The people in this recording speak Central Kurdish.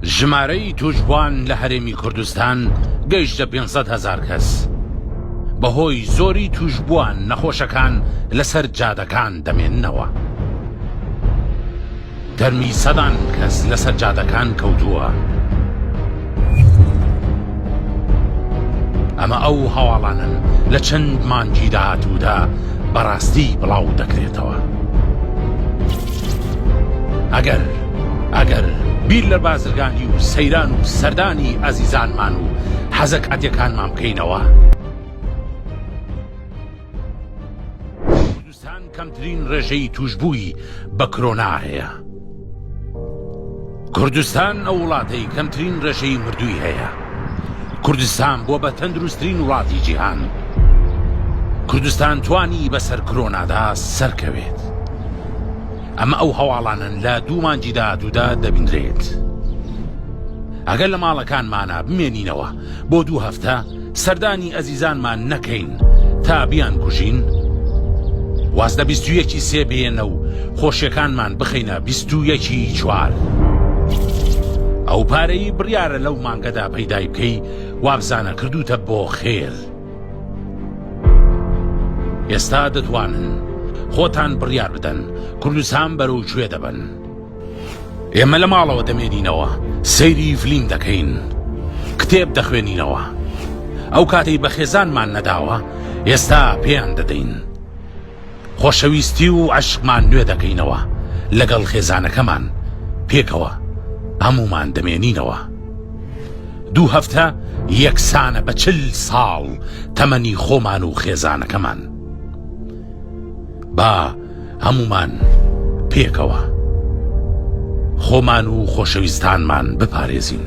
ژمارەی توشبوان لە هەرێمی کوردستان گەیشتە 500 هزار کەس بەهۆی زۆری توشبوان نەخۆشەکان لەسەر جادەکان دەمێننەوە تەرمی سەدان کەس لەسەر جادەکان کەوتووە. ئەمە ئەو هەواڵانن لە چەند مانگی داهاتوودا بەڕاستی بڵاو دەکرێتەوە ئەگەر ئەگەر بیر لە بازرگانی و سەیران و سەردانی ئازیزانمان و حەزەک عەتەکانمان بکەینەوە. پاکستان کەمترین ڕێژەی تووشبووی بە کرۆنا هەیە. کوردستان ئەو وڵاتەی کەمترین ڕێژەی مردووی هەیە. کوردستان بووە بە تەندروستترین وڵاتی جیهان. کوردستان توانی بەسەر کرۆنادا سەرکەوێت. ئەمە ئەو هەواڵانن لە دوو مانجی داهاتوودا دەبینرێت. ئەگەر لە ماڵەکانمانە بمێنینەوە بۆ دوو هەفتە سەردانی ئەزیزانمان نەکەین تا بیان کوژین؟ واز لە بیست و یەکی سێ بێنە و خۆشیەکانمان بخەینە بیست و یەکی چوار. ئەو پارەی بڕیارە لەو مانگەدا پەیدای بکەی وابزانە کردوتە بۆ خێر ئێستا دەتوانن خۆتان بڕیار بدەن کوردستان بەرەو کوێ دەبن ئێمە لە ماڵەوە دەمێنینەوە سەیری فلیم دەکەین کتێب دەخوێنینەوە ئەو کاتەی بە خێزانمان نەداوە ئێستا پێیان دەدەین خۆشەویستی و عشقمان نوێ دەکەینەوە لەگەڵ خێزانەکەمان پێکەوە هەمومان دەمێنینەوە دوو هەفتە یەکسانە بە چل ساڵ تەمەنی خۆمان و خێزانەکەمان با هەموومان پێکەوە خۆمان و خۆشەویستانمان بپارێزین.